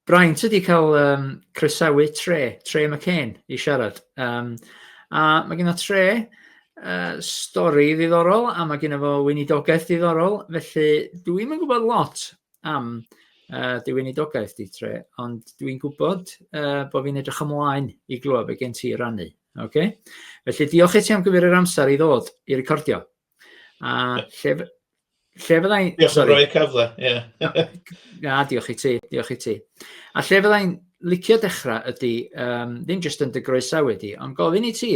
Brian, ti wedi cael um, croesawu Tre, Tre McCain, i siarad. Um, a mae gen o Tre uh, stori ddiddorol a mae gen o fo weinidogaeth ddiddorol, felly dwi'n yn gwybod lot am uh, dy weinidogaeth di Tre, ond dwi'n gwybod uh, bod fi'n edrych ymlaen i glywed be gen ti rannu. Okay? Felly diolch i ti am gyfer yr amser i ddod i recordio. A lle, lle fydda i'n... Diolch yn rhoi cyfle, ie. Na, diolch i ti, diolch i ti. A lle fydda i'n licio dechrau ydy, um, ddim jyst yn dy groesawu wedi, ond gofyn i ti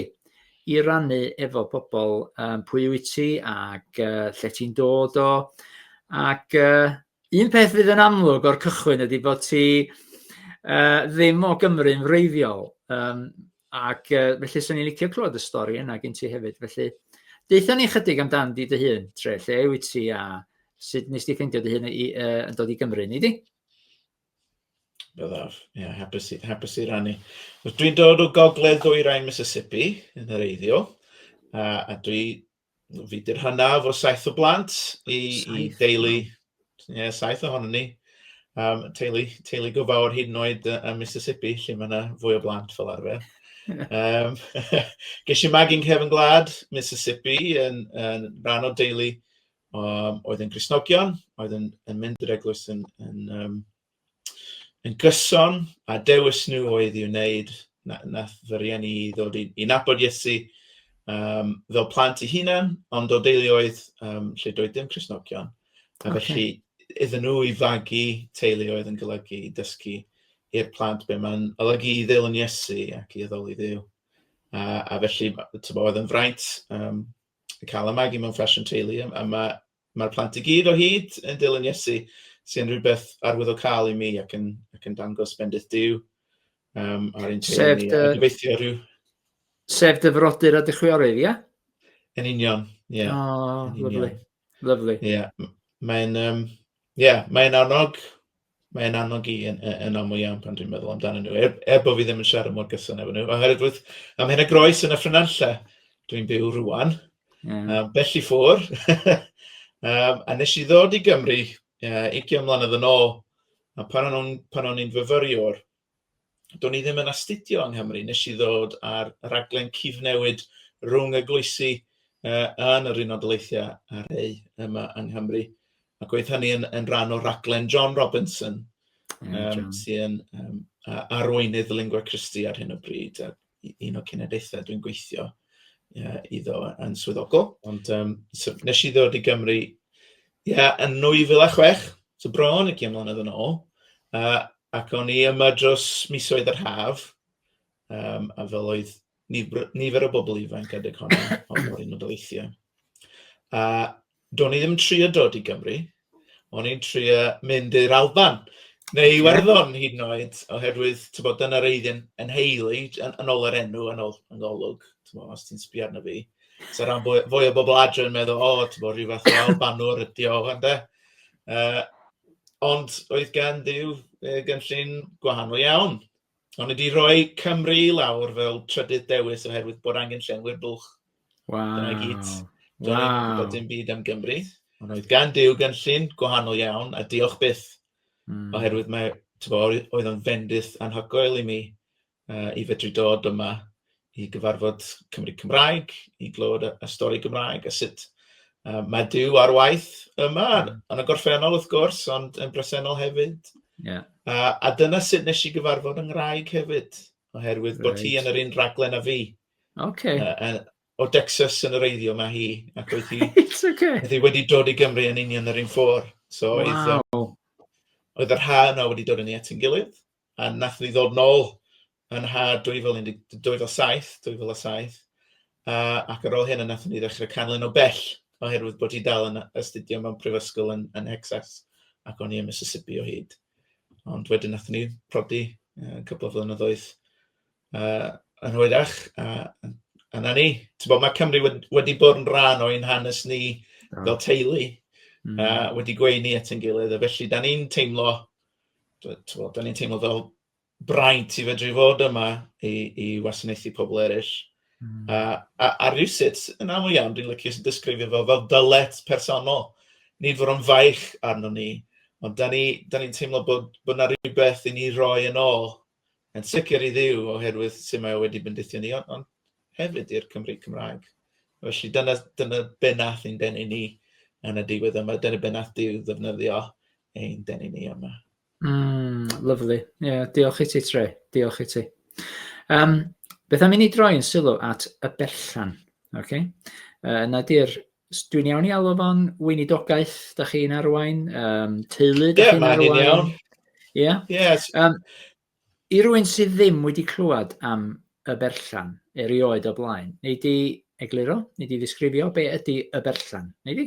i rannu efo pobl um, pwy wyt ti ac uh, lle ti'n dod o. Ac uh, un peth fydd yn amlwg o'r cychwyn ydy bod ti uh, ddim o Gymru'n wreiddiol. Um, Ac uh, felly, swn i'n licio clywed y stori yna gen ti hefyd. Felly, deitha ni chydig amdan di dy hun, tre, lle yw ti a sut nes ti ffeindio dy hun i, uh, yn dod i Gymru, ni di? Byddaf, ie, yeah, hapus, hapus i rannu. Dwi'n dod o gogledd ddwyrain Mississippi, yn yr eiddio, a, a dwi Fi di'r hanaf o saith o blant i, i deulu, ie, yeah, saith ohonom ni. Um, teulu, teulu go fawr hyd yn oed uh, ym Mississippi, lle mae yna fwy o blant fel arfer. um, ges i magu'n cefn gwlad Mississippi yn, yn rhan o deulu um, oedd yn Grisnogion, oedd yn, yn mynd i'r eglwys yn, yn, um, yn gyson, a dewis nhw oedd i wneud, nath fy rhieni i ddod i i nabod Iesu um, fel plant i hunan, ond o deuluoedd um, lle doedd dim Cresnogion. A okay. felly iddyn nhw i fagu teuluoedd yn golygu i dysgu i'r plant be mae'n olygu i ddeil yn Iesu ac i addoli ddeil. A, a felly, oedd yn fraint um, cael y magu mewn ffasiwn teulu, a, a mae Mae'r plant i gyd o hyd yn dilyn Iesu, sy'n rhywbeth arwyddocaol i mi ac yn, ac yn dangos bendith Dyw um, ar ein teulu ni. Dy... Gobeithio rhyw... Sef dy frodyr a dy chwiorydd, ia? Yn union, ie. Yeah. Oh, lovely, lovely. Ie, yeah. mae'n um, yeah, mae annog Mae e'n annog i yn, yn aml iawn pan dwi'n meddwl amdanyn nhw, er, er bod fi ddim yn siarad mor gyson efo nhw. Oherwydd wrth am hyn a groes yn y ffrynanlle, dwi'n byw rwan, yeah. um, bell i ffwr. um, a nes i ddod i Gymru uh, 20 mlynedd yn ôl, a pan o'n, pan o'n i'n fyfyriwr, do'n i ddim yn astudio yng Nghymru. Nes i ddod ar raglen cyfnewid rhwng y gloesi uh, yn yr Unol Daleithiau a'r ei yma yng Nghymru. Ac oedd hynny yn, yn rhan o raglen John Robinson, mm, um, sy'n um, arweinydd Lingua Christi ar hyn o bryd. A un o cenedlaethau dwi'n gweithio iddo yn swyddogol. Ond um, so, nes i ddod i Gymru ia, yn 2006, so bron i gym mlynedd yn ôl, uh, ac o'n i yma dros misoedd yr haf, um, a fel oedd nifer, nifer o bobl ifanc adeg honni, ond oedd yn y dyleithiau. A Do'n i ddim trio dod i Gymru, o'n i'n trio mynd i'r Alban, neu i Werddon yeah. hyd yn oed, oherwydd, ti'n bod, dyna'r eiddyn yn heili, yn, yn ôl yr enw, yn ôl yn golwg, ti'n bod, os ti'n sbio arno fi. So rhan fwy, fwy o bobl adre yn meddwl, o, oh, ti'n bod, rhyw fath o Albanwr ydi o, ond e. Uh, ond oedd gen ddiw gynllun gwahanol iawn. O'n i wedi rhoi Cymru i lawr fel trydydd dewis oherwydd bod angen llenwi'r bwlch. Wow. Dyna gyd. Dyna wow. i'n gwybod dim byd am Gymru. Right. Gan Dyw gynllun gwahanol iawn a diolch byth. Mm. Oherwydd mae, tyfo, oedd o'n fendith anhygoel i mi uh, i fedru dod yma i gyfarfod Cymry Cymraeg, i glywed y stori Gymraeg, a sut mae Duw ar waith yma, yn y gorffennol wrth gwrs, ond yn bresennol hefyd. Yeah. A, a dyna sut nes i gyfarfod yng Ngwraig hefyd, oherwydd right. bod hi yn yr un raglen a fi. Okay. Uh, o Dexas yn yr eiddio mae hi, ac oedd hi, okay. oedd hi wedi dod i Gymru yn union yr un ffordd. So, wow. oedd, oedd yr ha yna wedi dod yn ei at yn gilydd. a wnaethon ni ddod nôl yn haf 2017, 2007, a, ac ar ôl hynny wnaethon ni ddechrau canlyn o bell, oherwydd bod hi dal yn astudio mewn prifysgol yn, yn Hexas, ac o'n i yn Mississippi o hyd. Ond wedyn wnaethon ni prodi uh, cwpl o flynyddoedd uh, yn hwyrach, a, a na ni. Ti'n bod, mae Cymru wedi, wedi bod yn rhan o'n hanes ni fel teulu, mm. a wedi gweini at yn gilydd, a felly da ni'n teimlo Dw- tibod, dan ni'n teimlo fel braint i fedru fod yma i i wasanaethu pobl eraill. Mm. A a a rywsut, yn aml iawn, dwi'n licio disgrifio fo fel dylet personol. Nid fod o'n faich arno ni, ond dan ni dan ni'n teimlo bod bod 'na rywbeth i ni roi yn ôl Yn sicr i Dduw oherwydd sut mae o wedi bendithio ni, ond, ond hefyd i'r Cymry Cymraeg. Felly dyna, dyna be nath ein denu ni yn y diwedd yma, dyna be nath Duw ddefnyddio ein denu ni yma. Mm, lovely. Yeah, diolch i ti, Tre. Diolch i ti. Um, beth am i ni droi'n sylw at y berllan? Ok. Uh, na di'r... Dwi'n iawn i alw fo'n weinidogaeth, da chi'n arwain, um, teulu, da yeah, chi'n arwain. Ie, iawn. Ie? Yeah? Yes. Um, I rwy'n sydd ddim wedi clywed am y berllan erioed o blaen, neu di egluro, neu di ddisgrifio be ydy y berllan, neu di?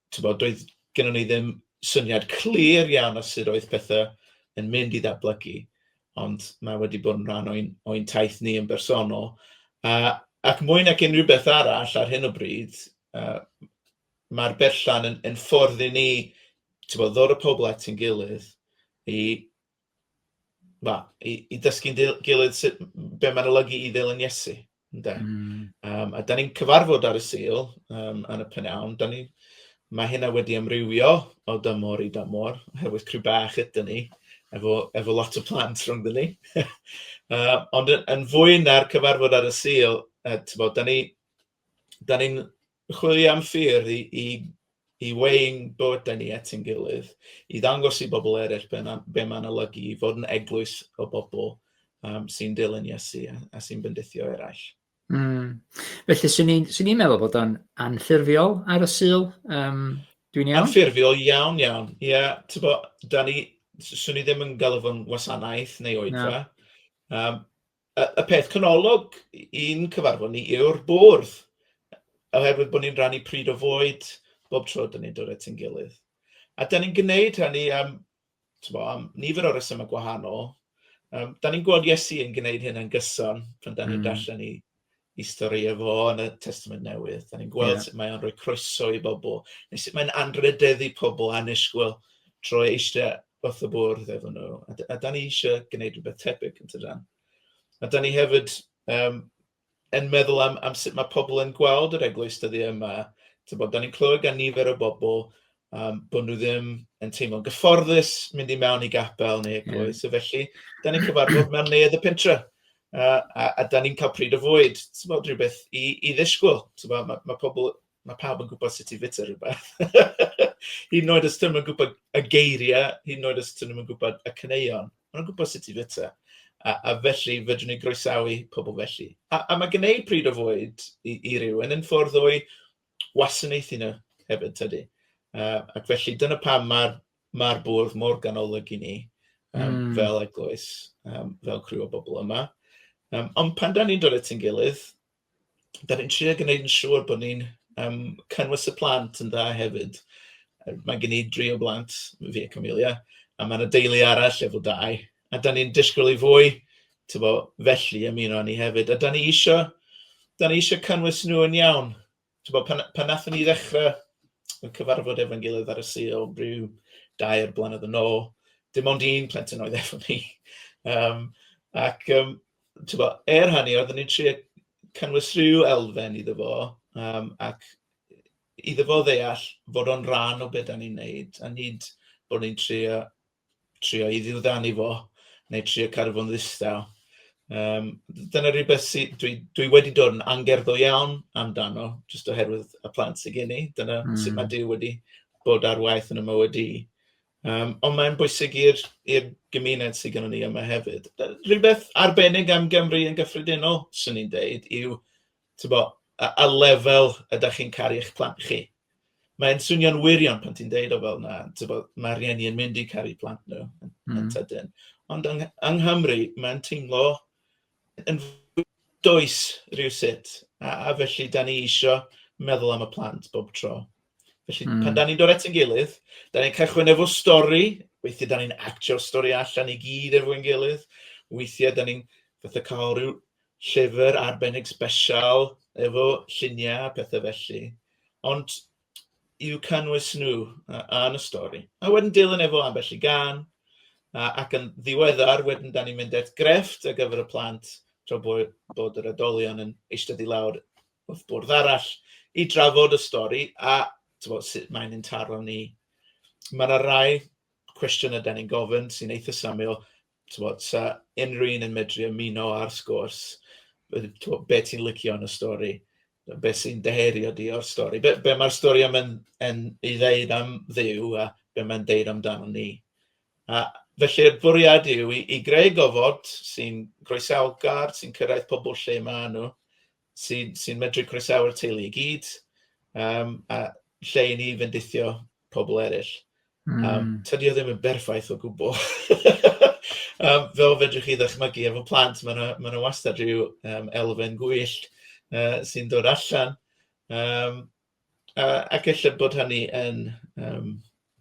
Tibod, doedd gennym ni ddim syniad clir iawn o sut oedd pethau yn mynd i ddatblygu, ond mae wedi bod yn rhan o'n ein taith ni yn bersonol. A, ac mwy nag unrhyw beth arall ar hyn o bryd, uh, mae'r berllan yn, yn ffordd i ni tibod, ddod y pobl at ein gilydd i Na, i i ddysgu'n dil- gilydd sut... be mae'n olygu i ddilyn Iesu ynde. Mm. Yym, a dan ni'n cyfarfod ar y Sul yym, yn y p'nawn. Dan ni... mae hynna wedi amrywio o dymor i dymor oherwydd crw bach ydyn ni efo efo lot o plant rhyngddyn ni. Yy, ond yn yn fwy na'r cyfarfod ar y Sul, yy, tibod, dan ni dan ni'n Chwilio am ffyrdd i weu'n bywydau ni at ein gilydd, i ddangos i bobl eraill be mae'n olygu i fod yn eglwys o bobl sy'n dilyn Iesu a sy'n bendithio eraill. Mm. Felly, swn i'n swn i'n meddwl bod o'n anffurfiol ar y Sul. Um, Dwi'n iawn? Anffurfiol iawn, iawn. Ie, yeah, ti'n bod, da ni, swn i ddim yn galw fo'n wasanaeth neu oedfa. No. Um, Y, y peth canolog i'n cyfarfod ni yw'r bwrdd, oherwydd bod ni'n rannu pryd o fwyd bob tro dyn ni'n dod at ein gilydd. A dyn ni'n gwneud hynny am, bo, am nifer o resymau gwahanol. Um, da ni'n gweld Iesu yn gwneud hyn yn gyson pan da ni'n mm. darllen i, ei stori e fo yn y Testament Newydd. Da ni'n gweld yeah. sut mae o'n rhoi croeso i bobl, neu sut mae'n anrhydeddu pobl annisgwyl trwy eistedd wrth y bwrdd efo nhw. A, a da ni eisiau gwneud rhywbeth tebyg yn tydan. A da ni hefyd um, yn meddwl am, am sut mae pobl yn gweld yr eglwys dyddi yma. Bod, da ni'n clywed gan nifer o bobl Yym, bod nhw ddim yn teimlo'n gyfforddus mynd i mewn i gapel neu eglwys. So felly, dan ni'n cyfarfod mewn neuadd y pentre. Uh, a, a da ni'n cael pryd o fwyd, ti'n bod rhywbeth i, i ddisgwyl. Mae ma, ma pobl, mae pawb yn gwybod sut i fita rhywbeth. hyd yn oed os ti'n yn gwybod y geiriau, hyd yn oed os ti'n yn gwybod y cyneuon, maen gwybod sut i fita. A, a felly, fydwn ni groesawu pobl felly. A, a mae gwneud pryd o fwyd i, i rywun yn ffordd o'i wasanaethu nhw hefyd tydi? Yy ac felly dyna pam ma'r ma'r bwrdd mor ganolog i ni yym... mm. ...fel eglwys, yym fel criw o bobl yma. Yym ond pan 'dan ni'n dod at ein gilydd, 'dan ni'n trio gwneud yn siŵr bod ni'n yym cynnwys y plant yn dda hefyd. Mae gen i dri o blant, fi a Camelia, a ma' 'na deulu arall efo dau. A da ni'n disgwyl i fwy, ti'n bod, felly ymuno â ni hefyd. A da ni eisiau, da ni eisiau cynnwys nhw yn iawn. Ti'n bod, pan, pan nathon ni ddechrau y cyfarfod efo'n gilydd ar y Sul, rhyw dair blynedd yn ôl, dim ond un plentyn oedd efo ni. Um, ac, um, ti'n bod, er hynny, oeddwn ni'n trio cynnwys rhyw elfen iddo fo, um, ac iddo fo ddeall fod o'n rhan o beth da ni'n neud, a nid bod ni'n trio trio i ddiwddanu fo neu trio cadw fo'n ddistaw. Um, dyna rhywbeth sydd, dwi, dwi wedi dod yn angerddol iawn amdano, jyst oherwydd y plant sydd gen i. Dyna mm. sut mae Dyw wedi bod ar waith yn y mywyd i. Um, ond mae'n bwysig i'r gymuned sydd gennym ni yma hefyd. Rhywbeth arbennig am Gymru yn gyffredinol, swn i'n deud, yw Tibod, a a lefel ydych chi'n caru eich plant chi? Mae'n swnio'n wirion pan ti'n deud o fel 'na, tibod, ma' rhieni yn mynd i caru plant nhw yn yn hmm. sydyn. Ond yng yng Nghymru mae'n teimlo yn does rhywsut, a a felly da ni isio meddwl am y plant bob tro. Felly pan hmm. da ni'n dod at ein gilydd, da ni'n cychwyn efo stori, weithiau da ni'n actio'r stori allan i gyd efo'n gilydd, weithiau da ni'n fatha cael rhyw llyfr arbennig sbesial efo lluniau a pethe felly, ond i'w cynnwys nhw yn y stori. A wedyn dilyn efo ambell i gan, ac yn ddiweddar wedyn da ni'n mynd at grefft ar gyfer y plant tra bod yr oedolion yn eistedd i lawr wrth bwrdd arall i drafod y stori a tibod sut mae'n ein taro ni. Mae yna rai cwestiynau da ni'n gofyn sy'n eitha' syml, Timod, 'sa unrhyw un yn medru ymuno â'r sgwrs, tibod be ti'n licio yn y stori, be sy'n dy herio di o'r stori, be be mae'r stori yma yn yn ei ddeud am Dduw a be mae'n deud amdanon ni. A felly'r bwriad yw i i greu gofod sy'n groesawgar, sy'n cyrraedd pobl lle maen nhw, sy'n sy'n medru croesawu'r teulu i gyd, yym, a lle i ni fendithio pobl eraill. Mm. Yym, tydi o ddim yn berffaith o gwbl. Yym, fel fedrwch chi ddychmygu efo plant, ma' 'na ma' 'na wastad ryw yym elfen gwyllt yy sy'n dod allan. Yym. A ac ella bod hynny yn yym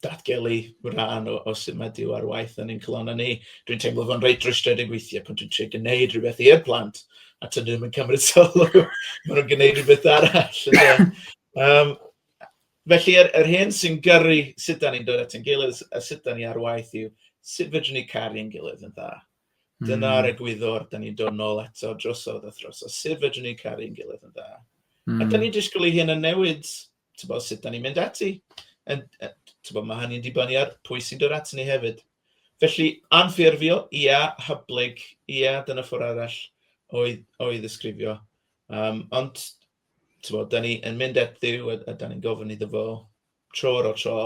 datgelu rhan o o sut mae Duw ar waith yn ein calonnau ni. Dwi'n teimlo fo'n reit rwystredig weithiau pan dwi'n trio gwneud rhywbeth i'r plant a tydyn nhw ddim yn cymryd sylw, maen nhw'n gwneud rhywbeth arall ynde. Yym felly yr yr hyn sy'n gyrru sut 'dan ni'n dod at ein gilydd a sut 'dan ni ar waith yw sut fedrwn ni caru'n gilydd yn dda. Dyna'r egwyddor dan ni'n dod nôl eto drosodd a throsodd. Sut fedrwn ni caru'n gilydd yn dda? A dan ni'n disgwyl i hyn yn newid tybod, sut dan ni'n mynd ati. And, uh, tybod, mae hynny'n dibynnu ar pwy sy'n dod ati ni hefyd. Felly, anffurfio, ia, hyblyg, ia, dyna ffwr arall o'i, o'i ddisgrifio. Um, ond, ti'n bod, da ni yn mynd at ddiw a, a da ni'n gofyn iddo fo tro ar ôl tro,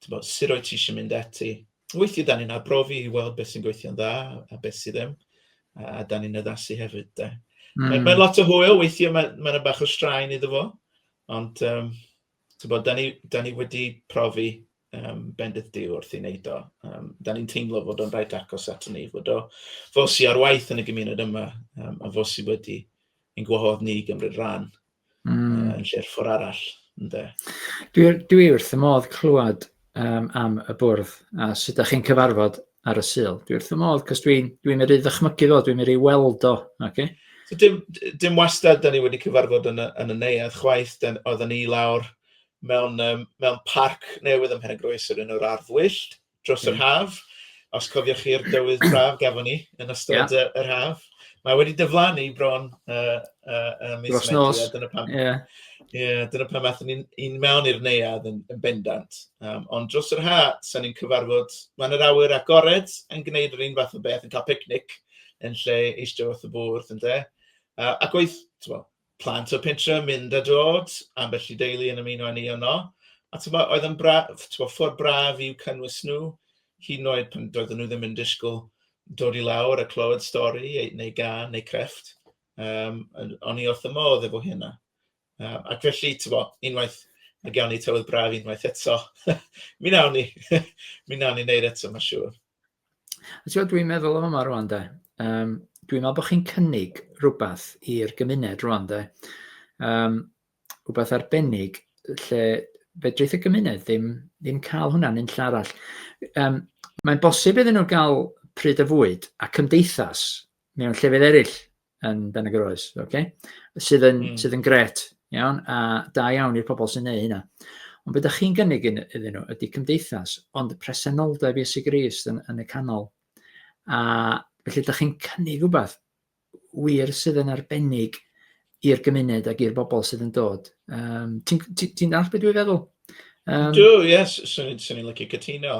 tibod, sut wyt ti eisiau mynd ati. Weithiau da ni'n arbrofi i weld beth sy'n gweithio'n dda a beth sydd ddim, a da ni'n addasu hefyd. De. Mm. Mae, mae hmm. lot o hwyl, weithiau mae'n mae yna bach o straen iddo fo, ond um, tibod, da, ni, da ni wedi profi um, bendith diw wrth i wneud o. Um, da ni'n teimlo fod o'n rhaid agos at ni, fod o fos i ar waith yn y gymuned yma, um, a fos i wedi ein gwahodd ni gymryd rhan mm. uh, yn lle'r ffwr arall. Ynddo. Dwi, dwi wrth y modd clywed um, am y bwrdd a sut ydych chi'n cyfarfod ar y syl. Dwi wrth y modd, cos dwi'n dwi, dwi meddwl ddychmygu fo, dwi'n meddwl weld o. Okay? So, dim, dim wastad, da ni wedi cyfarfod yn y, yn y neuad chwaith, oedden ni lawr mewn, um, mewn parc newydd ym Mhenygroes yr un o'r ardd wyllt. dros yr haf. Os cofiwch chi'r dywydd braf gafon ni yn ystod yeah. yr haf. Mae wedi dyflannu bron uh, uh, uh, mis Dros nos. Dyna pam, yeah. yeah, dyna pam athyn ni'n ni mewn i'r neuad yn, yn bendant. Um, ond dros yr ha, sa'n ni'n cyfarfod, mae'n yr awyr agored yn gwneud yr un fath o beth, yn cael picnic yn lle eistedd wrth y bwrdd, ynddo. Uh, ac oedd, ti'n plant o'r pentre yn mynd a dod, ambell i deulu yn ymuno â ni yno. A tybod, oedd yn braf, tybod, ffordd braf i'w cynnwys nhw, hyd yn oed pan doedden nhw ddim yn disgwyl dod i lawr a clywed stori neu gan neu crefft. Um, o'n i wrth y modd efo hynna. Um, ac felly, tybod, unwaith mae gawn ni tywydd braf unwaith eto, mi nawn ni, mi nawn ni wneud eto, mae'n siŵr. Ti'n dwi'n meddwl am yma rwan de. Um, dwi'n meddwl bod chi'n cynnig rhywbeth i'r gymuned rwan de. Um, rhywbeth arbennig lle fedrith y gymuned ddim, ddim cael hwnna'n un llall. Um, Mae'n bosib iddyn nhw gael pryd y fwyd a cymdeithas mewn llefydd eraill yn Ben y Groes, okay? sydd, yn, mm. sydd yn gret, iawn, a da iawn i'r pobl sy'n neud hynna. Ond beth ydych chi'n gynnig iddyn nhw ydy cymdeithas, ond presenoldeb Iesu Grist yn, yn y canol. A felly ydych chi'n cynnig rhywbeth wir sydd yn arbennig i'r gymuned ac i'r bobl sydd yn dod. Um, Ti'n ti, ti all beth dwi'n feddwl? Um, Dw, ie, yes, swn i'n swn i licio cytuno.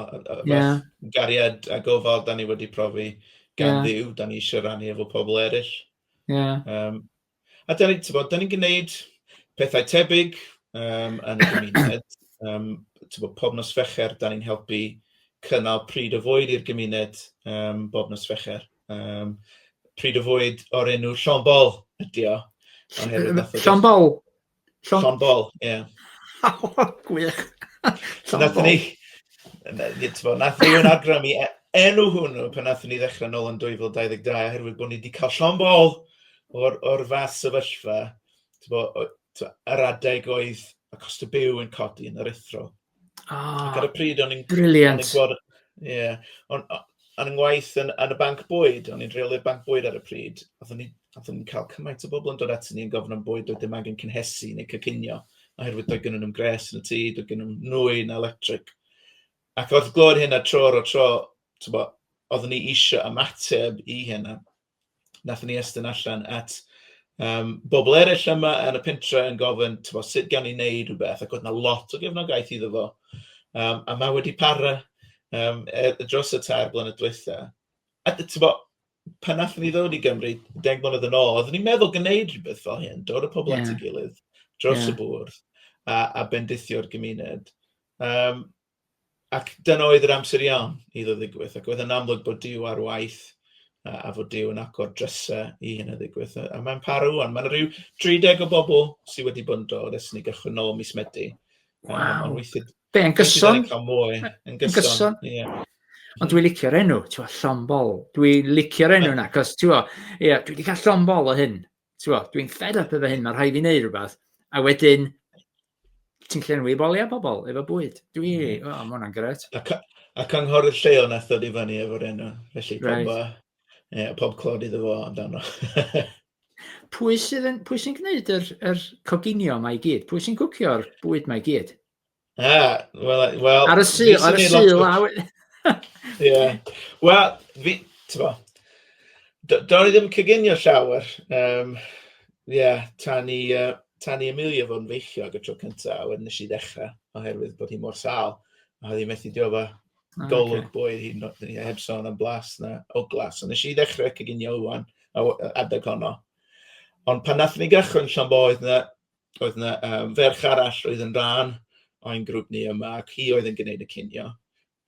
Yeah. Gariad a gofal, da ni wedi profi gan yeah. ddiw, da ni eisiau rannu efo pobl eraill. Yeah. Um, a da ni'n ni, ni gwneud pethau tebyg um, yn y gymuned. um, bod, pob nos fecher, da ni'n helpu cynnal pryd o fwyd i'r gymuned um, bob nos fecher. Um, pryd o fwyd o'r enw Sean Ball ydi o. Sean Ball? Sean Ball, ie. Gwych. Nath ni, nath ni yn agram i e, enw hwnnw pan nath ni ddechrau nôl yn 2022 oherwydd bod ni wedi cael Sean Ball o'r, or fath sefyllfa, yr adeg oedd y cost y byw yn codi yn yr ethro. Ah, ar y pryd o'n i'n... Brilliant. Ie, o'n i'n ngwaith yn, yn y banc bwyd, o'n i'n rheolydd banc bwyd ar y pryd, oeddwn ni'n cael cymaint o bobl yn dod ati ni yn gofyn am bwyd, doedd dim angen cynhesu neu cycinio, oherwydd doedd gen nhw'n gres yn y tŷ, doedd gen nhw'n nwy na electric. Ac oedd glod hyn a tro o tro, oedd ni eisiau ymateb i hyn, a wnaethon ni estyn allan at um, bobl eraill yma yn y pentre yn gofyn, tyfo, sut gawn ni wneud rhywbeth, ac oedd yna lot o gefnogaeth iddo fo. Um, a mae wedi para um, er, dros y tair blynedd diwetha. A tyfo, pan nath ni ddod i Gymru, deg mlynedd yn ôl, oeddwn ni'n meddwl gwneud rhywbeth fel hyn, dod y pobl yeah. at y gilydd, dros yeah. y bwrdd, a, a bendithio'r gymuned. Um, Ac dyna oedd yr amser iawn iddo ddigwydd, ac oedd yn amlwg bod Duw ar waith a, a fod Duw yn agor drysau i hyn o ddigwydd. A, a mae'n parw o'n. Mae'n rhyw 30 o bobl sydd wedi bod yn dod ers ni gychwyn nôl mis Medi. Wow. Um, weithio, Be, yn gyson? Yn mwy, yn gyson. Yeah. Ond dwi'n licio'r enw, ti'n fawr, llombol. Dwi'n licio'r enw yna, cos ti'n fawr, ie, dwi wedi cael llombol o hyn. Ti'n fawr, dwi'n fed up efo hyn, mae'n rhaid i wneud rhywbeth. A wedyn, Ti'n llenwi boliau pobl efo bwyd. Dwi, mm. oh, mae hwnna'n gret. A, a cynghorydd lleol nath ddod i fyny efo'r enw. Felly, right. pob, e, pob clod iddo fo amdano. pwy sydd yn, pwy sy'n gwneud yr, yr coginio mae i gyd? Pwy sy'n cwcio'r bwyd mae i gyd? Ah, well, well, ar y syl, ar y syl lawr. Ie. Wel, fi, ti'n bo, do'n i ddim coginio llawer. Um, yeah, tan i, uh, tan i Amelia fod yn feichiog y tro cynta, a wedyn nes i ddechra oherwydd bod hi mor sâl, a oedd hi'n methu diofa. O, ocê. Golwg bwyd hi, no- ni heb sôn am blas na ogla. So nes i ddechrau coginio ŵan a w- yy adeg honno. Ond pan nathon ni gychwyn Llanbo oedd 'na oedd 'na yym ferch arall oedd yn rhan o'n grŵp ni yma ac hi oedd yn gwneud y cinio.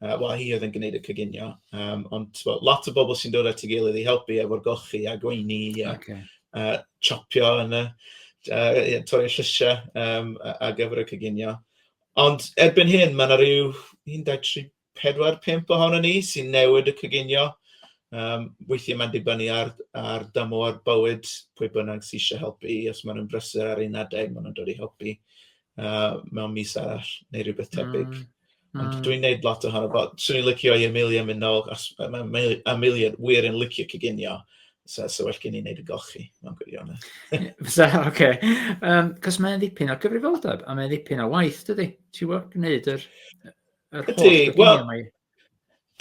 Yy wel hi oedd yn gwneud y coginio, yym ond tibod lot o bobl sy'n dod at ei gilydd i helpu efo'r golchi a gweini a... ocê. ...a tsopio yn y yy torri'r llysiau yym ar gyfer y coginio. Ond erbyn hyn ma' 'na ryw un, dau, tri, pedwar, pump ohonon ni sy'n newid y coginio. Yym weithiau mae'n dibynnu ar ar dymor bywyd pwy bynnag sy isie helpu, os maen nhw'n brysur ar un adeg maen nhw'n dod i helpu yy mewn mis arall neu rywbeth tebyg. Ond hmm. dwi'n neud lot ohono fo. Swn i'n licio i Amelia mynd nôl, achos mae Amelia wir yn licio cyginio. So, so well gen i wneud y golchi, mae'n gwirionedd. so, oce. Okay. Um, cos mae'n ddipyn o gyfrifoldeb, a mae'n ddipyn o waith, dydy? Ti'n gwybod, gwneud yr, yr holl gyginio mae...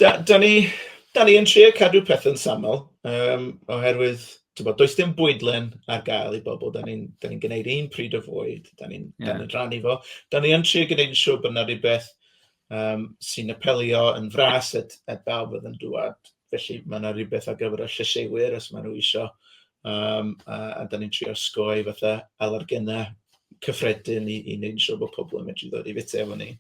Da, da ni, da ni yn trio cadw pethau'n syml, um, oherwydd, ti'n bod, does dim bwydlen ar gael i bobl, da ni'n da ni gwneud un pryd o fwyd, da ni'n yeah. ni rannu fo. Da ni yn trio gwneud yn siŵr bod yna rhywbeth um, sy'n apelio yn fras at, at bawb oedd yn dŵad. Felly mae yna rhywbeth ar gyfer y llysieuwyr os maen nhw eisiau. Um, a, a da ni'n trio sgoi fatha alergynau cyffredin i, i wneud yn siŵr bod pobl yn medru ddod i fita efo ni.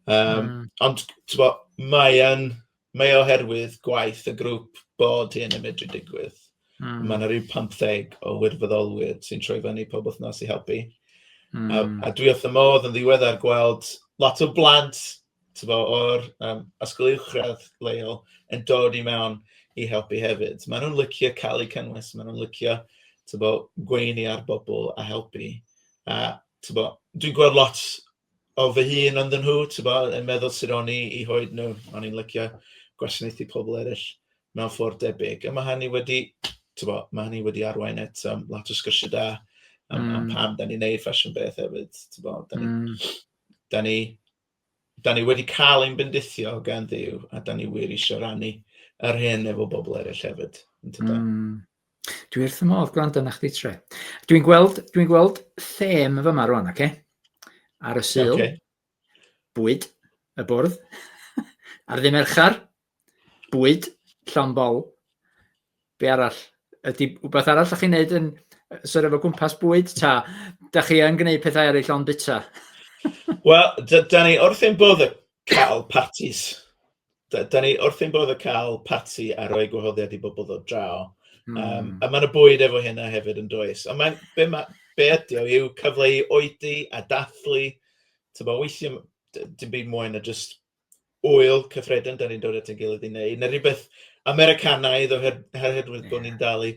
Yym... mm. ...ond tibod, mae e'n... mae o oherwydd gwaith y grŵp bod hyn yn medru digwydd... mm. ...ma' 'na ryw pumtheg o wirfoddolwyr sy'n troi fyny pob wythnos i helpu... mm. ...a a dwi wrth fy modd yn ddiweddar gweld lot o blant tibod o'r yym ysgol uwchradd leol yn dod i mewn i helpu hefyd. Maen nhw'n licio cael eu cynnwys, maen nhw'n licio tibod gweini ar bobl a helpu a tibod dwi'n gweld lot... o fy hun ond nhw, ti'n bo, yn meddwl sy'n o'n i i hoed nhw, o'n i'n lycio gwasanaethu pobl eraill mewn ffordd debyg. A mae hynny wedi, ti'n bo, mae hynny wedi arwain at um, lot o sgyrsiau da am, mm. am pam da ni'n neud fashion beth hefyd, ti'n bo, da ni, mm. da ni, da ni wedi cael ein bendithio gan ddiw a da ni wir eisiau rannu yr hyn efo bobl eraill hefyd. Mm. Dwi wrth fy modd gwrando na chdi tre. Dwi'n gweld, dwi'n gweld them fy yma rwan, oce? Okay? Ar y syl, okay. bwyd, y bwrdd, ar ddim erchar, bwyd, llon bol, be arall? Ydy rhywbeth arall ydych chi'n neud yn sort of o gwmpas bwyd, ta? Da chi yn gwneud pethau ar ei llon bita? Wel, da, da ni wrth ein bodd y cael parties. Da, da ni wrth ein bodd o cael parti a rhoi gwahoddiad i bobl ddod draw. Mm. Um, a mae yna bwyd efo hynna hefyd yn does. Ond mae'n, be, ma, be ydi o yw cyfle i oedi a dathlu. Tyma, weithiau dim byd mwy na just wyl cyffredin, da ni'n dod at ein gilydd i wneud. Na rhywbeth Americanaidd oherwydd bod ni'n dal i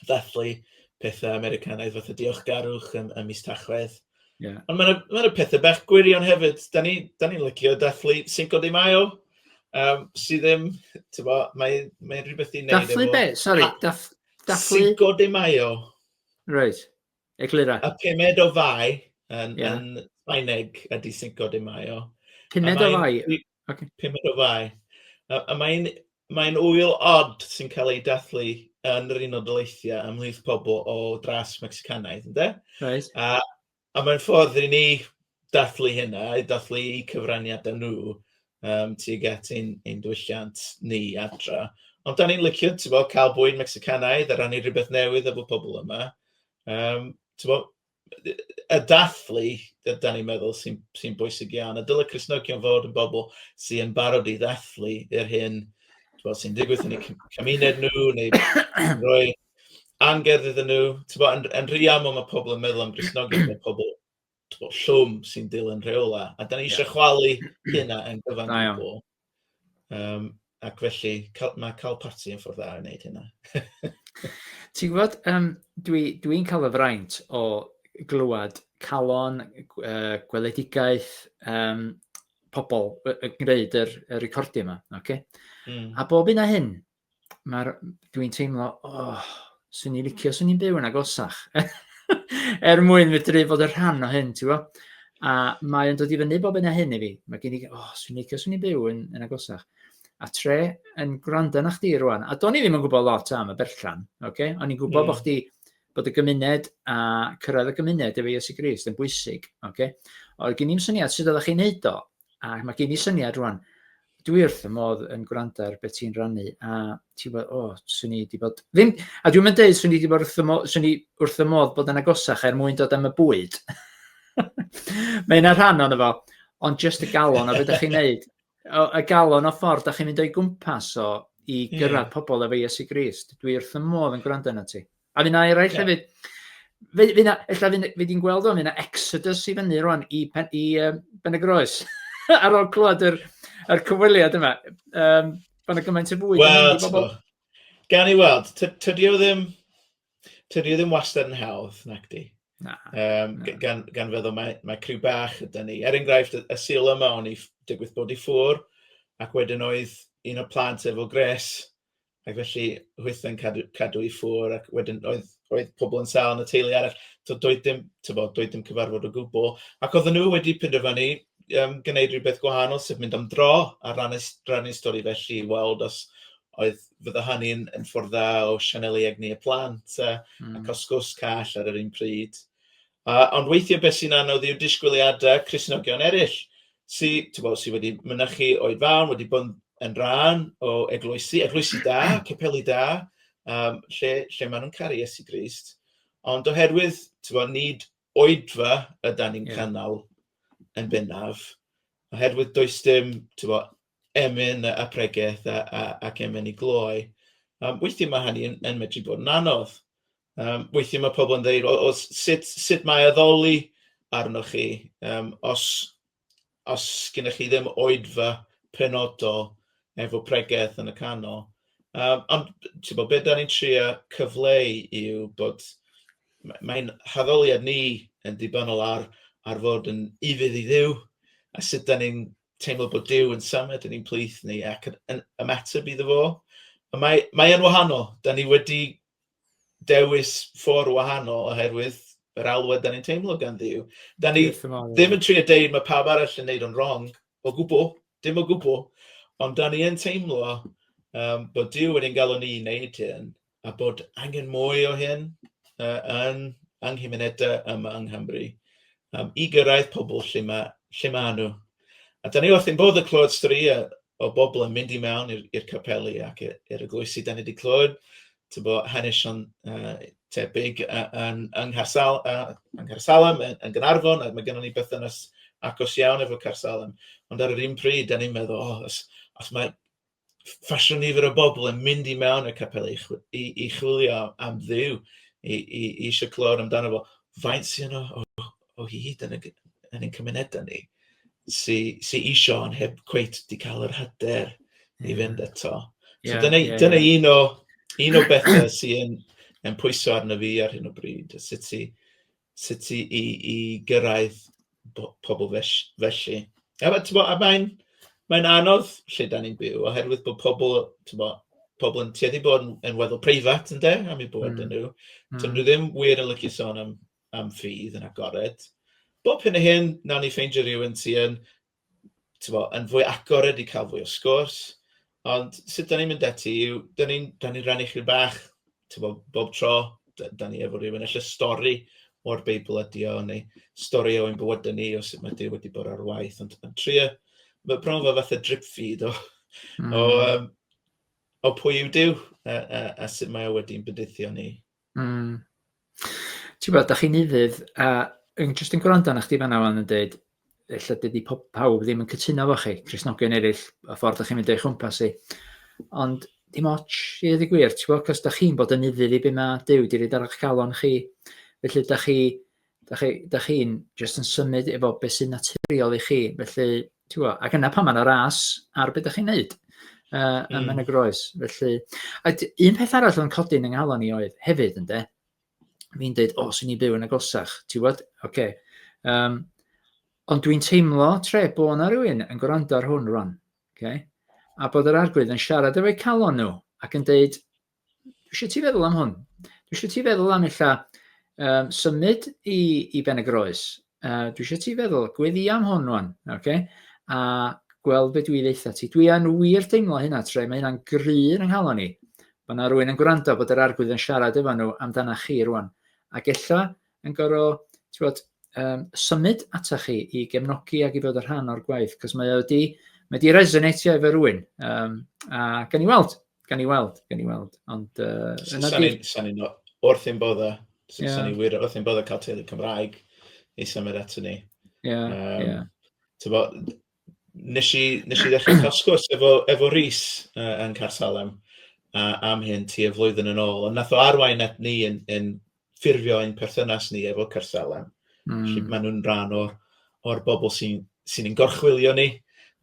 ddathlu pethau Americanaidd fatha diolchgarwch ym, ym mis Tachwedd. Yeah. Ond mae'n ma y pethau bach gwirion hefyd. Da ni'n ni, ni licio dathlu Cinco de Mayo, um, sydd ddim, ti'n bo, mae'n mae rhywbeth i'n neud efo... Dathlu be? Sorry, dath, dathlu... Cinco de Mayo. Right, eglura. A pumed o fai yn, yeah. yn Sbaeneg ydy Cinco de Mayo. Pumed o fai? Ocê. Pumed o Fai. A a mae'n mae'n ŵyl od sy'n cael ei dathlu yn yr Unol Daleithiau ymhlith pobl o dras Mecsicanaidd, ynde? Reit. A a mae'n ffordd i ni dathlu hynna, i dathlu eu cyfraniadau nhw yym tuag at ein ein diwylliant ni adra. Ond dan ni'n licio, ti'n gwbod, cael bwyd Mecsicanaidd a rannu rhywbeth newydd efo pobl yma. Yym, ti'n gwbod? y dathlu, da ni'n meddwl, sy'n sy bwysig iawn. A dylai Cristnogion fod yn bobl sy'n barod i ddathlu yr hyn sy'n digwydd yn eu cymuned nhw, neu roi angerdd iddyn nhw. Bo, yn, yn rhy aml mae pobl yn meddwl am Gristnogion, mae pobl bo, llwm sy'n dilyn rheola. A da ni eisiau yeah. chwalu hynna yn gyfan gwbl. Um, ac felly, cal, mae cael parti yn ffordd dda i wneud hynna. Ti'n gwybod, um, dwi'n dwi, cael y fraint o glywed calon, uh, gweledigaeth, um, pobl yn gwneud yr, y recordio yma. Okay? Mm. A bob un a hyn, mae'r... Dwi'n teimlo, oh, swn i'n licio, swn i'n byw yn agosach. er mwyn medru bod y rhan o hyn, ti'n bo? A mae'n dod i fyny bob yna hyn i fi. Mae gen i, oh, swn i'n licio, swn i'n byw yn, yn agosach. A tre yn gwrando na chdi rwan. A do'n i ddim yn gwybod lot am y berllan, oce? Okay? O'n i'n gwybod mm. bod chdi bod y gymuned a cyrraedd y gymuned efo Iesu Grist yn bwysig. Okay? Oedd gen i'n syniad sut oeddech chi'n neud o, A mae gen i syniad rwan, dwi wrth y modd yn gwrando ar beth ti'n rannu, a ti'n bod, o, oh, swn i wedi bod... Ddim, a dwi'n mynd dweud, swn i wedi bod wrth y modd, swn i wrth y modd bod yn agosach er mwyn dod am y bwyd. mae yna rhan o'n efo, ond just y galon o beth ydych chi'n neud. O, y galon o ffordd, da chi'n mynd o'i gwmpas o i gyrraedd yeah. pobl efo Iesu Grist. Dwi wrth y modd yn gwrando yna ti. A fy na eraill yeah. hefyd. Fe, fe na, ella fe, fe di'n gweld o'n fe na exodus i fyny rwan i, pen, i um, Ben y Groes. Ar ôl clywed yr, yr cyfweliad yma. Um, Fan y gymaint o fwy. Wel, gan i weld, tydi o ddim, tydi o ddim wastad yn hawdd, nac di. Na, um, na. Gan, gan feddwl mae, mae criw bach ydy ni. Er enghraifft, y sil yma o'n i digwydd bod i ffwr, ac wedyn oedd un o plant efo gres Ac felly hwythau'n cadw cadw i ffwrdd ac wedyn oedd oedd pobl yn sâl yn y teulu arall. So doedd dim tibod, doedd dim cyfarfod o gwbl. Ac oedden nhw wedi penderfynu um, gwneud rhywbeth gwahanol, sef mynd am dro a rannu, rannu stori felly i weld os oedd fydda hynny'n yn ffordd dda o sianelu egni y plant a, mm. a cael sgwrs call ar yr un pryd. A, ond weithiau beth sy'n anodd yw disgwyliadau Cristnogion eraill, sy, tybo, sy wedi mynychu oed fawn, wedi bod yn rhan o eglwysi, eglwysi da, capeli da, um, lle, lle maen nhw'n caru Iesu Grist. Ond oherwydd, tybo, nid oedfa yda ni'n yeah. cynnal yn bennaf, oherwydd does dim, tybo, emyn a pregeth a, a, ac emyn i gloi. Um, weithiau mae hynny yn, yn medru bod yn anodd. Um, weithiau mae pobl yn dweud, o, o, sut, sut mae addoli arnoch chi um, os, os gennych chi ddim oedfa penodol efo pregeth yn y canol. Um, ond, ti'n bod, beth da ni'n trio cyfleu yw bod mae'n haddoliad ni yn dibynol ar, ar fod yn ufudd i ddiw a sut da ni'n teimlo bod Duw yn symud yn ein plith ni ac yn, yn ymateb iddo fo. Mae, mae yn wahanol. Da ni wedi dewis ffordd wahanol oherwydd yr alwad da ni'n teimlo gan ddiw. Da ni ddim yn trio deud mae pawb arall yn neud o'n wrong o gwbl, dim o gwbl, ond da ni yn teimlo um, bod Dyw yn ein galw ni i wneud hyn, a bod angen mwy o hyn yy yn yng nghymunedau yma yng Nghymru yym i gyrraedd pobl lle ma' lle ma' nhw. A dan ni wrth ein bodd yn clywed storïau o bobl yn mynd i mewn i'r i'r capeli ac i- i'r eglwysi dan ni wedi clywed tibod hanesion yy tebyg yy yn yng Ngharsal- yy yng Ngharsalem yn yn Gaernarfon a ma' gynnon ni berthynas agos iawn efo Carshalem ond ar yr un pryd dan ni'n meddwl o os os mae ffasiwn nifer o bobl yn mynd i mewn y capel i, i, i chwilio am ddiw, i, i, i eisiau clywed amdano fo. Faint sy'n o, o, o hyd yn, y, yn ein cymunedau ni sy'n sy eisiau ond heb cweit di cael yr hyder i fynd eto. So yeah, dyna, yeah, dyna yeah. un, o, un o bethau sy'n yn pwyso arno fi ar hyn o bryd, sut i sut i i i gyrraedd po- pobl fell- felly. A ma' t'mo', a mae'n mae'n anodd lle 'dan ni'n byw oherwydd bod pobl, t'mo', pobl yn tueddu i bod yn yn weddol preifat ynde, am eu bod... mm. ...yn nhw. Mm. Dydyn nhw ddim wir yn licio sôn am am ffydd yn agored. Bob hyn a hyn, wnawn ni ffeindio rhywun sy yn, tibod, yn fwy agored i cael fwy o sgwrs. Ond sut dan ni'n mynd ati yw, dan ni'n dan ni'n rhannu chydig bach, tibod, bob tro d- dan ni efo rywun, ella stori o'r Beibl ydy o, neu stori o'n bywydau ni o sut mae Duw wedi bod ar waith. Ond yn trio, mae bron fel fath o drip feed o, mm. o, um, o pwy yw Duw a, a, a sut mae o wedi'n bydithio ni. Mm. Ti'n gwybod, da chi'n ufudd, a yn jyst yn gwrando arna chdi fanna fan yn dweud, lle dydy pob, pawb ddim yn cytuno fo chi, Cresnogion eraill, a ffordd da chi'n mynd o'i chwmpas i. Ond dim ots i ddweud y gwir, ti'n gwybod, cos da chi'n bod yn ufudd i beth mae Dyw wedi rhaid ar eich calon chi. Felly, da chi, Da chi, da chi'n just yn symud efo beth sy'n naturiol i chi, felly, ti'n gwybod, ac yna pan mae'n ras ar beth da chi'n neud uh, mm. yn hmm. y groes. Felly, a un peth arall o'n codi yn ynghalon ni oedd hefyd, ynddo, fi'n dweud, o, oh, sy'n ni byw yn y gosach, ti'n gwybod, oce. Okay. Um, ond dwi'n teimlo tre bod yna rhywun yn gwrando ar hwn rwan, okay? a bod yr arglwydd yn siarad efo'u calon nhw ac yn dweud, Dwi eisiau ti feddwl am hwn. Dwi eisiau ti feddwl am illa um, symud i, i Ben y Groes. Uh, dwi eisiau ti feddwl, gweddi am hwn rwan, okay? a gweld beth dwi ddeitha ti. Dwi yn wir teimlo hynna tre, mae hynna'n gry yn yng nghalon i. Mae yna rwy'n yn gwrando bod yr arglwydd yn siarad efo nhw amdana chi rwan. Ac ella yn gorau, ti'n bod, um, symud ata chi i gefnogi ac i fod y rhan o'r gwaith, cos mae wedi, mae wedi resonatio efo rwy'n. Um, a gan i weld, Gan i weld, gan i weld. Ond... Uh, Sa'n i'n wrth i'n bodda. Sa'n i'n wir wrth i'n bodda cael teulu Cymraeg i symud ato ni. Ie, um, ie. Tyfo, nes i, nes i ddechrau cael sgwrs efo, efo Rhys uh, yn Carsalem uh, am hyn ti y flwyddyn yn ôl. Ond nath o arwain at ni yn, yn ffurfio ein perthynas ni efo Carsalem. Mm. Felly maen nhw'n rhan o'r, or bobl sy'n sy, sy gorchwilio ni,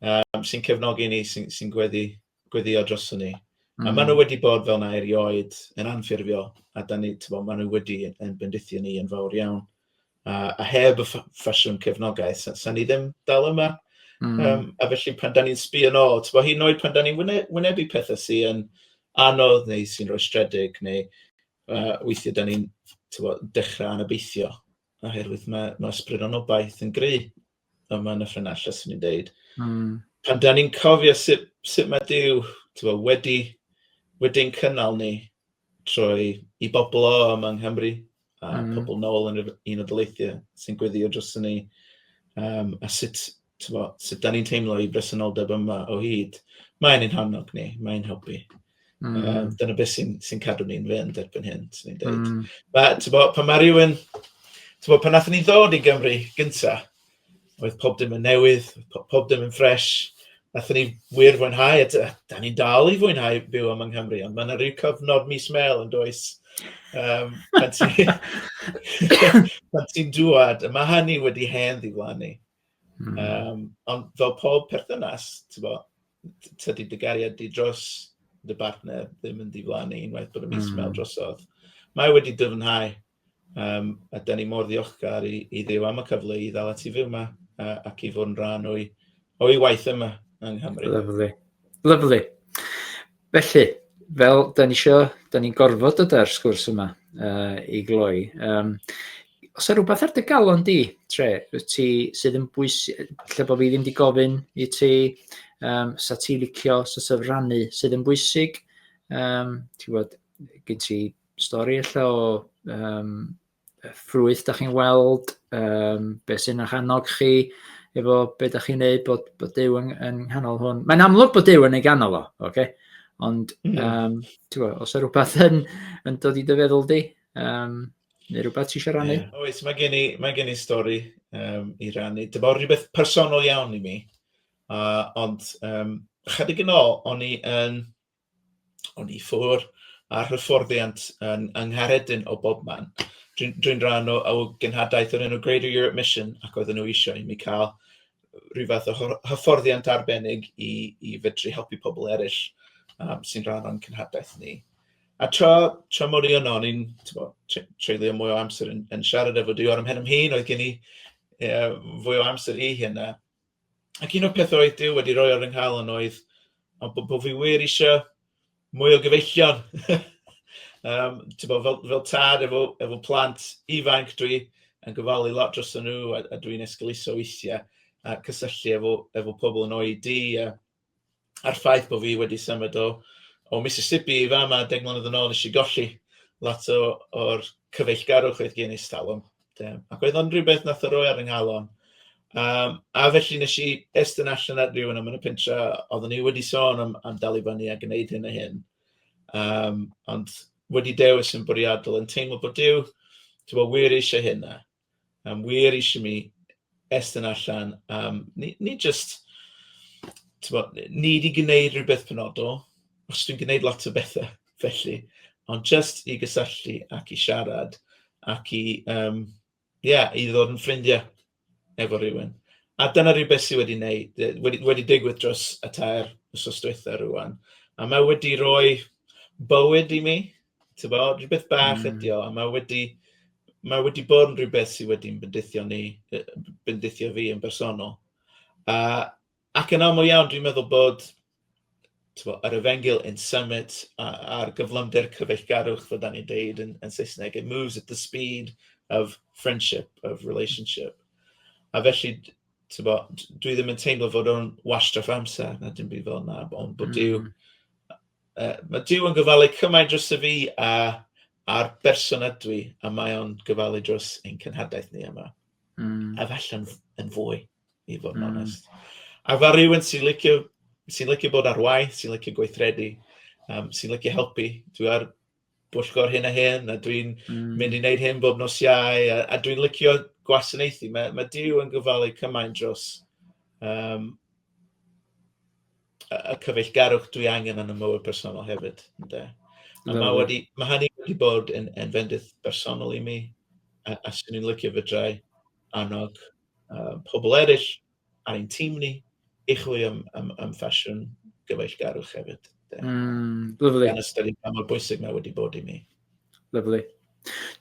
um, sy'n cefnogi ni, sy'n sy gweddi gweddïo droson ni. Mm. A maen nhw wedi bod fel yna erioed yn anffurfiol, a da ni, tyfo, maen nhw wedi yn bendithio ni yn fawr iawn. A, a heb y ffasiwn cefnogaeth, sa'n sa ni ddim dal yma. Mm. Um, a felly pan da ni'n sbio yn ôl, tyfo, hyn oed pan da ni'n wynebu pethau sy'n anodd neu sy'n rhoi stredig, neu uh, weithiau da ni'n dechrau anobeithio, oherwydd mae, mae ysbryd anobaith yn gry yma yn y ffenestr, swn i'n deud. Mm. Pan da ni'n cofio sut, sut mae Dyw bo, wedi, wedi'n cynnal ni trwy i bobl o yma yng Nghymru, a mm. pobl nôl yn yr un o dyleithiau sy'n gweddio dros ni, um, a sut, bo, sut da ni'n teimlo i bresenoldeb yma o hyd. Mae'n ein hannog ni, mae'n helpu. Yym, dyna beth sy'n sy'n cadw ni'n fynd erbyn hyn, 'swn i'n deud. Mm. Ma', tibod, pan ma' rywun... Tibod, pan wnaethon ni ddod i Gymru gynta, oedd pob dim yn newydd, po- pob dim yn ffres. Wnaethon ni wir fwynhau, a d- a da ni'n dal i fwynhau byw yma yng Nghymru, ond mae yna ryw cyfnod mis Mel yn does. Um, pan ti- pan ti'n dŵad, mae hynny wedi hen ddiflannu. Mm. Um, ond fel pob perthynas, ti'n bo, tydi dy gariad di dros dy bartner ddim yn diflannu unwaith bod y mis mm. mewn drosodd. Mae wedi dyfnhau, um, a da ni mor ddiolchgar i, i ddew am y cyfle i ddal ati fyw yma a, ac i fod yn rhan o'i, o'i waith yma yng Nghymru. Lyflu. Lyflu. Felly, fel da ni isio, da ni'n gorfod dod â'r sgwrs yma uh, i gloi. Um, os yna rhywbeth ar dy galon di, tre, ti sydd yn bwysig, lle bod fi ddim di gofyn i ti, um, sa ti licio sort of rannu sydd yn bwysig, um, ti bod, gen ti stori allan o um, ffrwyth da chi'n weld, um, beth sy'n eich annog chi, efo beth da chi'n neud bod, bod Dyw yn, yn nghanol hwn. Mae'n amlwg bod Dyw yn ei ganol o, oce? Okay? Ond, mm. um, bo, os yw rhywbeth yn, yn dod i dy feddwl di, um, neu rhywbeth ti eisiau rannu? Yeah. Oes, mae gen i, mae gen i stori um, i rannu. Dyma rhywbeth personol iawn i mi. Uh, ond, um, chydig yn ôl, o'n i yn... Um, Ond i ffwr â'r hyfforddiant yn yng Nghaeredin o bobman. Dwi'n dwi rhan o, o gynhadaeth o'r enw Greater Europe Mission ac oedden nhw eisiau i mi cael rhyw fath o hyfforddiant arbennig i, i fedru helpu pobl eraill um, sy'n rhan o'n cynhadaeth ni. A tra, tra mor i yno, o'n i'n treulio mwy o amser yn, yn siarad efo Dior am hyn am hyn, oedd gen i uh, fwy o amser i hynna. Ac un o'r pethau oedd Duw wedi rhoi ar fy nghalon oedd ond bod, bod fi wir eisiau mwy o gyfeillion. um, bod, fel, fel tad efo, efo plant ifanc, dwi yn gofalu lot dros nhw a, a dwi'n esgeluso weithiau a cysylltu efo, efo pobl yn oed di a, a'r ffaith bod fi wedi symud o o Mississippi i fama deg mlynedd yn ôl, nes i golli lot o o'r cyfeillgarwch oedd gen i ers talwm de, ac oedd o'n rywbeth wnaeth o roi ar fy nghalon. Um, a felly nes i estyn allan ar rhywun am yn y pentra, oedden ni wedi sôn am, am dal i fyny a gwneud hyn a hyn. Um, ond wedi dewis yn bwriadol yn teimlo bod Dyw, ti'n bod, wir eisiau hynna. Mae'n wir eisiau mi estyn allan am... nid jyst tibod, nid i gwneud rhywbeth penodol, achos dwi'n gwneud lot o bethau felly, ond jyst i gysylltu ac i siarad ac i yym ie i ddod yn ffrindiau efo rhywun. A dyna rhywbeth sydd wedi wneud wedi wedi digwydd dros y tair wythnos dwytha rŵan, a mae wedi rhoi bywyd i mi, Tibod, rhywbeth bach ydy o, a mae wedi mae wedi bod yn rhywbeth sydd wedi bendithio ni, bendithio fi yn bersonol. A, ac yn aml iawn, dwi'n meddwl bod bo, yr efengil in summit a'r gyflymder cyfeillgarwch, fe da ni'n deud yn, yn Saesneg, it moves at the speed of friendship, of relationship. A felly, bo, dwi ddim yn teimlo fod o'n wastraff amser, na dim byd fel yna, ond bod mm. Dyw, Uh, mae Dyw yn gyfalu cymaint dros y fi a a'r berson ydw i, a mae o'n gyfalu dros ein cynhadaeth ni yma. Mm. A falle yn, yn fwy, i fod yn mm. onest. A fa rhywun sy'n licio, sy licio bod ar waith, sy'n licio gweithredu, um, sy'n licio helpu. Dwi ar bwyllgor hyn a hyn, a dwi'n mynd i wneud hyn bob nos Iau, a a dwi'n licio gwasanaethu. Mae mae Duw yn gofalu cymaint dros yym, y y cyfeillgarwch dwi angen yn y mywyd personol hefyd ynde. A mae wedi... mae hynny wedi bod yn yn fendith bersonol i mi, a a 'swn i'n licio fedrai annog yy pobl eraill. ar ein tîm ni i chwilio am, am, am ffasiwn gyfeillgarwch hefyd. Mm, lyflu. Gan ystyried pa mor bwysig mae wedi bod i mi. Lyflu.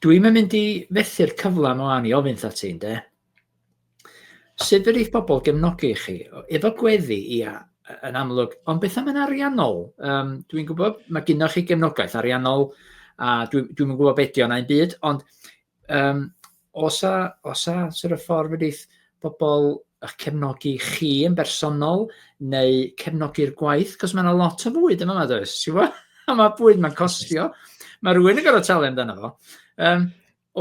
Dwi'n mynd i fethu'r cyfle yma i ofyn tha ti'n de. Sut fe rhaid pobl gefnogi chi? Efo gweddi, ia, yn amlwg. Ond beth am yn ariannol? Um, dwi'n gwybod, mae gynnwch chi gefnogaeth ariannol, a dwi'n dwi gwybod beth ydy o'n ein byd, ond Yym, os a, os a sort of ffordd wedi'th bobl eich cefnogi chi yn bersonol neu cefnogi'r gwaith, cos mae yna lot o fwyd yma, does? Ti'n gwybod? A mae bwyd mae'n costio. Mae rhywun yn gorfod talu amdano fo. Um,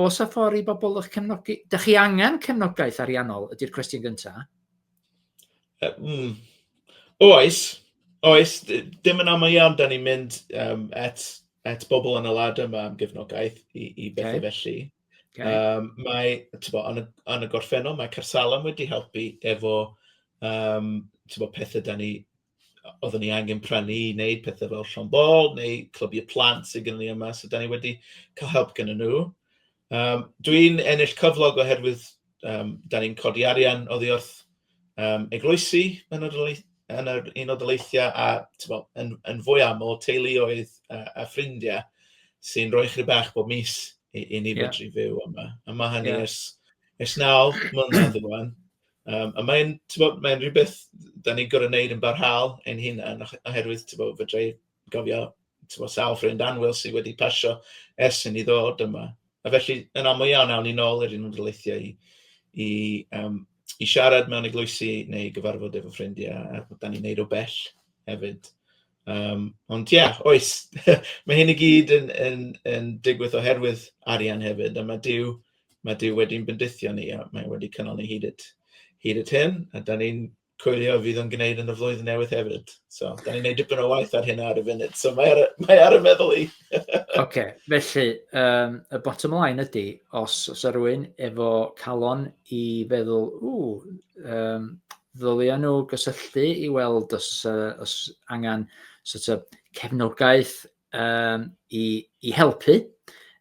os a ffordd i bobl eich cefnogi, da chi angen cefnogaeth ariannol ydy'r cwestiwn gyntaf. Mm. Oes, oes, d- dim yn aml iawn, da ni'n mynd um, at, at bobl yn y lad yma am gefnogaeth i, i bethau okay. felly. Okay. Um, mae, bo, yn, y, yn y gorffennol, mae Carsalam wedi helpu efo um, bo, pethau da ni oedden ni angen prynu i wneud pethau fel Llon Bol neu clybiau plant sydd gen ni yma, so dan ni wedi cael help gen nhw. Um, Dwi'n ennill cyflog oherwydd um, dan ni'n codi arian oddi wrth um, eglwysi yn yr, yn yr un o dyleithiau a bo, yn, yn fwy aml teuluoedd a, a ffrindiau sy'n rhoi chri bach bob mis i, i ni yeah. fedru fyw yma. A mae hynny yeah. ers, ers naw mlynedd yn rwan. Yym a mae'n timod mae'n rywbeth dan ni'n gorfod wneud yn barhaol ein hunain ohe- oherwydd timod fedra i gofio timod sawl ffrind annwyl sy wedi pasio ers i ni ddod yma, a felly yn aml iawn awn ni nôl i'r Unol Daleithiau i i yym i siarad mewn eglwysi neu gyfarfod efo ffrindiau, a dan ni'n wneud o bell hefyd. Yym, ond ie, oes, mae hyn i gyd yn yn yn digwydd oherwydd arian hefyd, a ma' Duw ma' Duw wedi'n bendithio ni, a mae e wedi cynnal ni hyd at hyd at hyn, a dan ni'n coelio y fydd o'n gwneud yn y flwyddyn newydd hefyd. So, dan ni'n gwneud dipyn o waith ar hynna ar y funud, so mae ar y, mae ar y meddwl i. Ocê, felly yym y bottom line ydy, os o's 'na rywun efo calon i feddwl, ww, yym ddylia nhw gysylltu i weld os, uh, os angen sort of, cefnogaeth um, i, i helpu,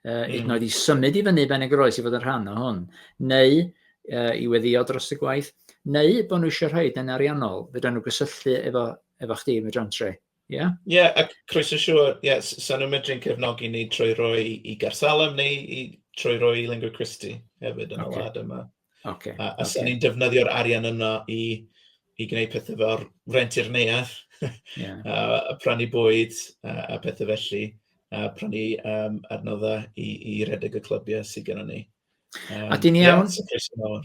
uh, mm. hyd yn oed i symud i fyny ben y groes i fod yn rhan o hwn, neu uh, i weddio dros y gwaith, neu bod nhw eisiau rhaid yn ariannol, fydda nhw gysylltu efo, efo chdi, mae John Tre. Ie, yeah? yeah, a croeso siwr, ie, yeah, sa'n nhw'n medru'n cefnogi ni trwy roi i Garsalem neu i, trwy roi i Lingua Christi hefyd yn okay. y wlad yma. Okay. A, a okay. ni'n defnyddio'r arian yno i, i gwneud pethau fel rent i'r neuadd, yeah. a, a prynu bwyd a, a pethau felly, a prynu um, adnoddau i, i redeg y clybiau sydd gennym ni. Um, a dyn ni iawn? Yeah,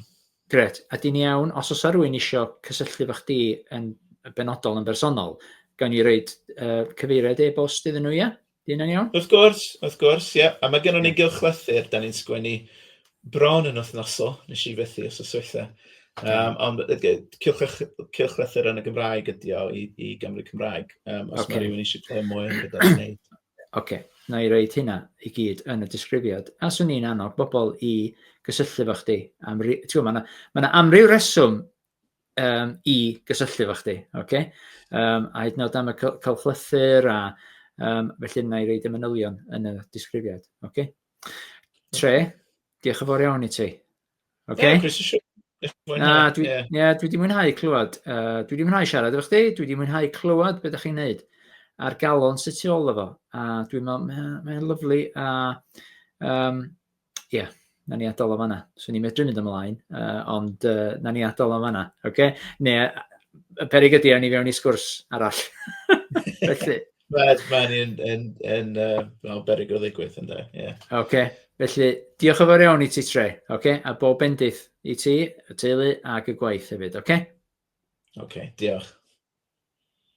Gret, a dyn ni iawn, os oes rhywun eisiau cysylltu fach di yn benodol yn bersonol, gawn ni reid uh, cyfeiriad e-bost iddyn nhw, ia? Dyn yn iawn? Wrth gwrs, wrth gwrs, ie. Yeah. A mae gennym ni gylchlythyr, da ni'n sgwennu bron yn wythnosol, nes i fethu os oes weithiau. Um, ond cylchlythyr yn y Gymraeg ydi o i, i Gymru Cymraeg, um, os okay. mae rhywun eisiau clywed mwy am gyda'r wneud. Oce, na i reid hynna i gyd yn y disgrifiad. A swn i'n annog bobl i gysylltu fo chdi. Am ri... Ti'n gwybod, mae yna ma amryw reswm um, i gysylltu efo chdi, oce? Okay? Um, a hyd yn oed am y cylchlythyr a um, felly yna i reid y manylion yn y disgrifiad, oce? Okay? Tre, diolch yn fawr iawn i ti. Oce? Okay? Yeah, Chris, Na, dwi, yeah. yeah, dwi wedi mwynhau clywed. Uh, dwi wedi mwynhau siarad efo chdi, dwi wedi mwynhau clywed beth ydych chi'n neud a'r galon sy'n tu ôl efo. A dwi'n meddwl, mae'n ma lyflu a um, ie, yeah, na ni adol o fanna. So ni'n medru mynd ymlaen, uh, ond uh, na ni adol o fanna. Okay? Ne, y perig ydy, a ni fewn i sgwrs arall. Felly. Mae'n ma yn, yn, yn uh, berig o ddigwydd, ynddo. Yeah. Okay. Felly, diolch yn fawr iawn i ti, Tre. Okay? A bob bendith i ti, y teulu ac y gwaith hefyd. Okay? Okay, diolch.